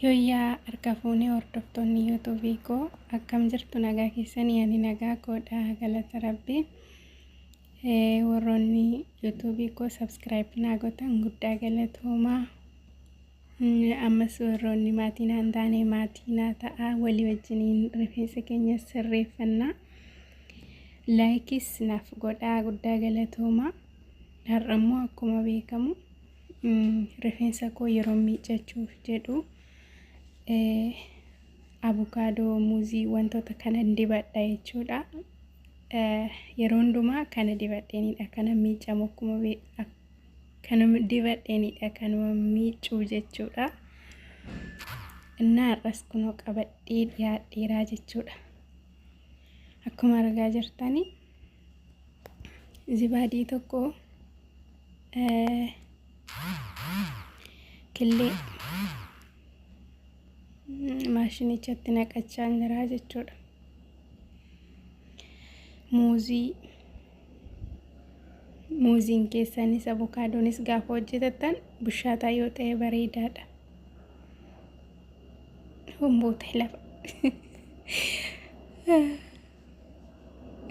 Yooyyaa harka fuunee hordoftoonni yuutuubii koo akkam jirtu nagaa keessanii ani nagaa koodha galata rabbi warroonni yuutuubii koo sabskiraayib naa gootan guddaa galatoomaa ammas warroonni maatii naan taane maatii naa ta'a walii wajjiniin rifeensa keenya sirreeffannaa laayikis naaf godhaa guddaa galatoomaa har'ammoo akkuma beekamu rifeensa koo yeroo miiccachuuf jedhu abukaadoo muuzii wantoota kana dibadha jechuudha. Yeroo hundumaa kana dibadheenidha kana miiccamu akkuma kanuma dibadheenidha kanuma miiccuu jechuudha. Innaa har'as kunoo qabadhee dhiyaadheeraa jechuudha. Akkuma argaa jirtanii zibaadii tokko killee maashinichatti naqachaa jiraa jechuudha. Muuzii muuziin keessanis abukaadonis gaafa hojjetattan bushaataa yoo ta'e bareedaadha. Humboota lafa.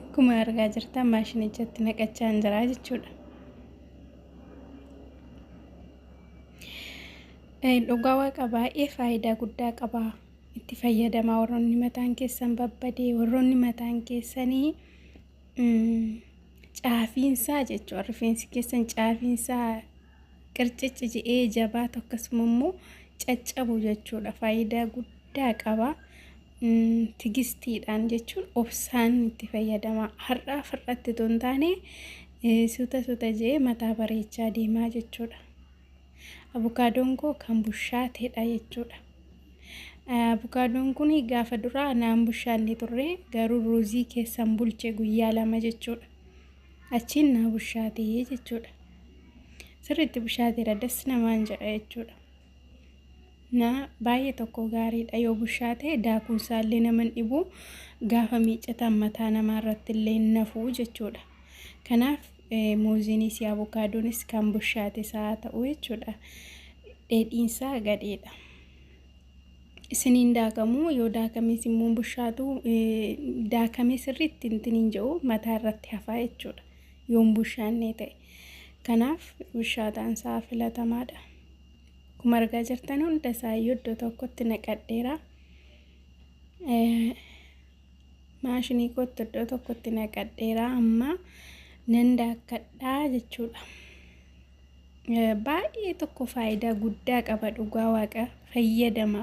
Akkuma argaa jirtan maashinichatti naqachaa hin jiraa jechuudha. Dhugaa waaqa baay'ee faayidaa guddaa qaba. Itti fayyadamaa warroonni mataan keessan babbadee warroonni mataan keessanii caafiinsaa jechuudha. Rifeensi keessan caafiinsaa qircici jedhee jabaatu akkasuma immoo caccabu jechuudha. Faayidaa guddaa qaba. tigistiidhaan jechuun obsaan itti fayyadama. Har'aaf har'atti otoo hin taane suuta suuta jee mataa bareechaa deemaa jechuudha. Abukaadoon koo kan bushaateedha jechuudha. Abukaadoon kun gaafa duraa naan bushaanne turre garuu ruuzii keessan bulche guyyaa lama jechuudha. Achiin naa bushaatee jechuudha. Sirriitti bushaateera das namaan jedha jechuudha. na baay'ee tokko gaariidha yoo bushaa ta'e daakuun isaallee nama hin dhibu gaafa miiccataan mataa namaa irratti illee hin nafuu jechuudha. Kanaaf muuziinis abukaadonis kan bushaate isaa ta'u jechuudha. Dheedhiinsaa gadheedha. Isiniin daakamuu yoo daakames immoo bushaatu daakamee sirriitti hin jedhu mataa irratti hafaa jechuudha. Yoon bushaannee ta'e. Kanaaf bushaaxaan isaa filatamaadha. Akkuma argaa jirtan hunda isaayyuu iddoo tokkotti naqadheera. Maashinii kootti iddoo tokkotti naqadheera amma nan daakkadhaa jechuudha. Baay'ee tokko faayidaa guddaa qaba dhugaa waaqa fayyadama.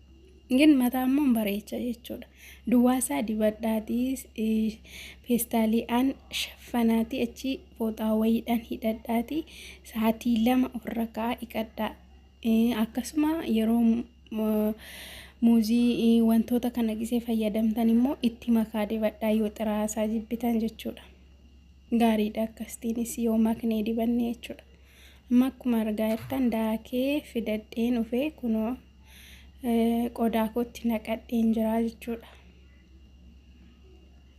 Gin mataa immoo hin bareecha jechuudha. Duwwaasaa dibadhaatii eh, feestaaliidhaan shaffanaatii achi fooxaa wayiidhaan hidhadhaatii sa'aatii lama ofirra ka'aa dhiqadhaa. Eh, Akkasuma yeroo mu- muuzii eh, wantoota kana gisee fayyadamtan immoo itti makaa dibadhaa yoo xiraasaa jibbitan jechuudha. Gaariidha akkasitiinis yoo maknee dibanne jechuudha. Amma akkuma argaa jirtan daakee fidadheen dhufee kunoo qodaa kootti naqadheen jiraa jechuudha.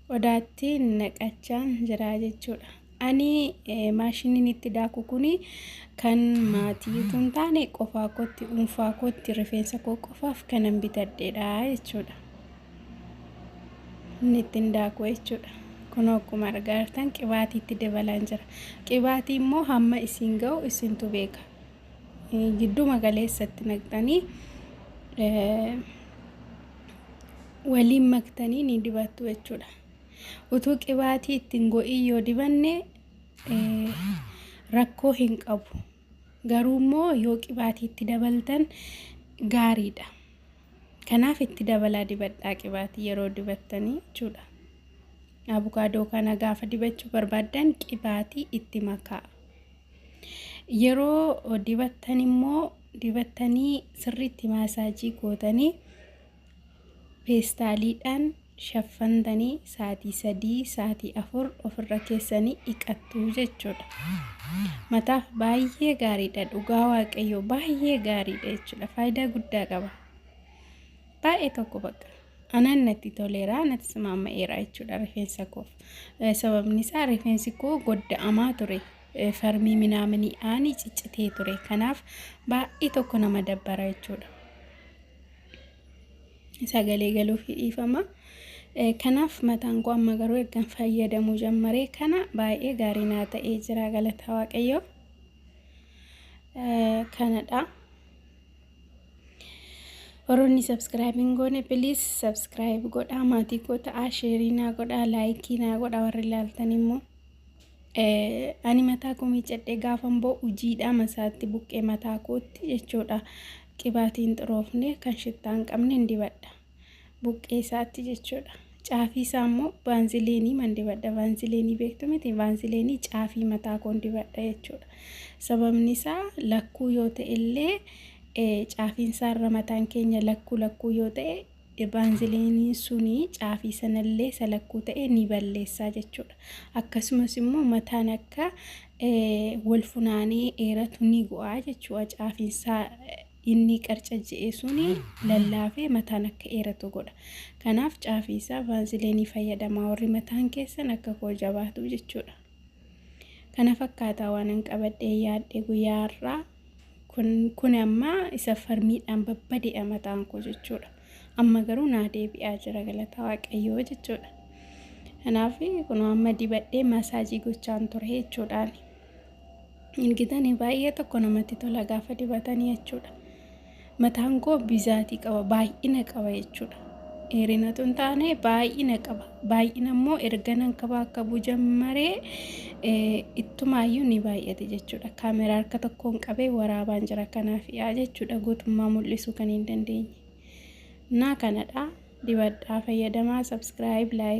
Qodaatti naqachaan jiraa jechuudha. Ani maashiniin itti daaku kun kan maatii utuu hin taane qofaa kootti dhuunfaa kootti rifeensa koo qofaaf kanan bitadheedha jechuudha. Inni ittiin daaku jechuudha. Kun akkuma argaa jirtan qibaatii itti dabalaan jira. Qibaatii immoo hamma isin ga'u isintu beeka. gidduma galeessatti naqxanii waliin maktanii ni dibattu jechuudha. Utuu qibaatii ittiin go'ii yoo dibanne rakkoo hin qabu. Garuu immoo yoo qibaatii itti dabaltan gaariidha. Kanaaf itti dabalaa dibadhaa qibaatii yeroo dibattanii jechuudha. Abukaadoo kana gaafa dibachuu barbaaddan qibaatii itti makaa. Yeroo dibattan immoo dibattanii sirriitti maasaajii gootanii peestaaliidhaan shaffantanii saatii sadii saatii afur ofirra keessanii dhiqattu jechuudha. Mataaf baay'ee gaariidha dhugaa waaqayyoo baay'ee gaariidha jechuudha faayidaa guddaa qaba. Baay'ee tokko bakka. Anaan natti toleera, natti simaama'eera jechuudha rifeensa koof. Sababni isaa rifeensi koo godda'amaa ture. Farmii minaaminii aanii ciccitee ture. Kanaaf baay'ee tokko nama dabbara jechuudha. Sagalee galuuf dhiifama. Kanaaf mataan koo amma garuu ergan fayyadamuu jammaree kana baay'ee gaarii naa ta'ee jira galataa waaqayyoo. Kanadha. Warroonni subscribe hin goone please subscribe godhaa maatii koo ta'aa sheerii naa godhaa laayikii naa godhaa warri ilaaltan immoo ani mataa koo miicadhee gaafan boo ujiidhaa masaatti buqqee mataa kootti jechuudha qibaatiin xuroofne kan shittaa hin qabne hin dibadha. buqqee isaatti jechuudha. Caafii isaa immoo baanzileenii man dibadha. Baanzileenii beektu miti baanzileenii caafii mataa koon dibadha jechuudha. Sababni isaa lakkuu yoo ta'e illee caafiin isaa irra mataan keenya lakkuu lakkuu yoo ta'e baanzileeniin suni caafii sanallee isa lakkuu ta'e ni balleessaa jechuudha. Akkasumas immoo mataan akka wal funaanee dheeratu ni bu'aa jechuudha caafiin isaa inni qarcajja'e suni lallaafee mataan akka eeratu godha. Kanaaf caafii isaa vaaziliinii fayyadamaa warri mataan keessan akka koo jabaatu jechuudha. Kana fakkaataa waanan qabadhee yaadde guyyaa har'aa kun kun amma isa farmiidhaan babbadeedha mataan koo jechuudha. Amma garuu naa deebi'aa jira galata waaqayyoo jechuudha. Kanaaf kun amma dibadhee maasaajii gochaan ture jechuudhaani. argitanii baay'ee tokko namatti tola gaafa dibatanii jechuudha mataan koo bizaatii qaba baay'ina qaba jechuudha dheerinatu hin taane baay'ina qaba baay'ina immoo erga nan qaba akka bujammaree ittumaayyuu ni baay'ate jechuudha kaameraa harka tokkoon qabee waraabaan jira kanaaf yaa jechuudha guutummaa mul'isuu kan hin dandeenye naa kanadha dibadhaa fayyadamaa sabskiraayib laayik